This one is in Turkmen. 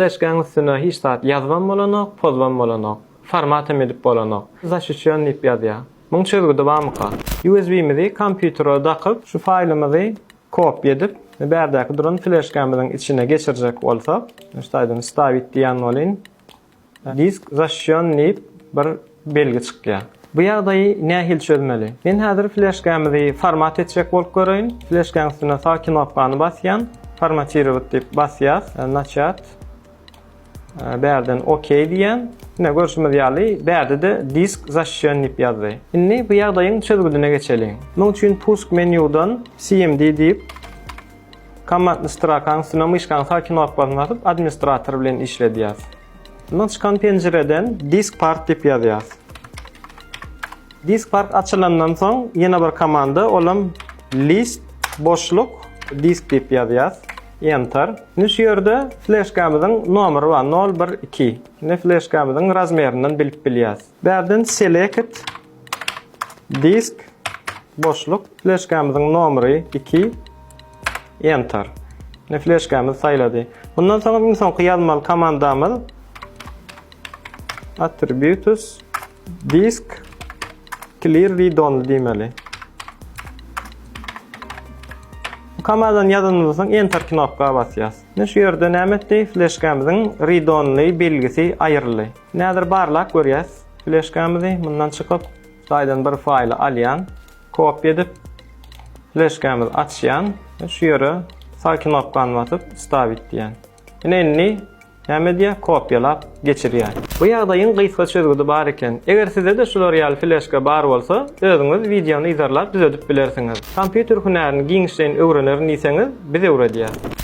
Fleshkaň üstüne hiç zat ýazybam bolanok, pozybam bolanok. Formatam edip bolanok. Zaşişýon diýip ýazýa. Muň çözgüdi bamyka? USB-mizi kompýutere dakyp, şu faýlymyzy kopýa edip, bärdäki duran fleshkamyzyň içine geçirjek bolsak, şu taýdan wstavit diýýän bolyn. Disk zaşişýon diýip bir belgi çykýar. Bu ýagdaýy nähili çözmeli? Men häzir fleşkämizi format etjek bolup göreýin. Fleşkäň üstüne sag knopkany basýan. Formatirowat diýip basýas. Naçýat. Bärden OK diýýän. Ine görşümiz ýaly bärde-de disk zaşişen diýip ýazdy. Indi bu ýagdaýyň çözgüdine geçeliň. Munuň üçin pusk menýudan CMD diýip kommandny strakaň üstüne myşkaň sag knopkasyny basyp administrator bilen işledýas. Mundan çykan penjireden disk part diýip ýazýas. Disk part açylandan soň ýene bir komanda, olam list boşluk disk diýip ýazýas. Enter. Indi şu ýerde fleşkamyzyň nomeri bar, 012. Indi fleşkamyzyň razmerinden bilip bilýäs. Bärden select Disk, boşluk, fleşkamyzyň nomeri iki, Enter. Indi fleşkamyzy saýlady. Mundan soň iň soňky ýazmaly komandamyz attributes disk clear read only diýmeli. Bu komandany ýazanymyzdan soň Enter knopka basýas. Indi şu ýerde näme etdi? Fleşkamyzyň read only belgisi aýryldy. Näzir barlap görýäs. Fleşkamizi mundan çykyp, saýdan bir faýly alýan, kopýa edip, fleşkamizi açýan we şu ýere sag knopkany basyp wstawit diýýän. Ine indi näme edýär? Kopýalap geçirýär. Bu ýagdaýyň gysga çözgüdi bar eken. Eger sizde-de şular ýaly fleşka bar bolsa, özüňiz wideony yzarlap düzedip bilersiňiz. Kompýuter hünärini giňişleýin öwrenerin diýseňiz, biz öwredýäs.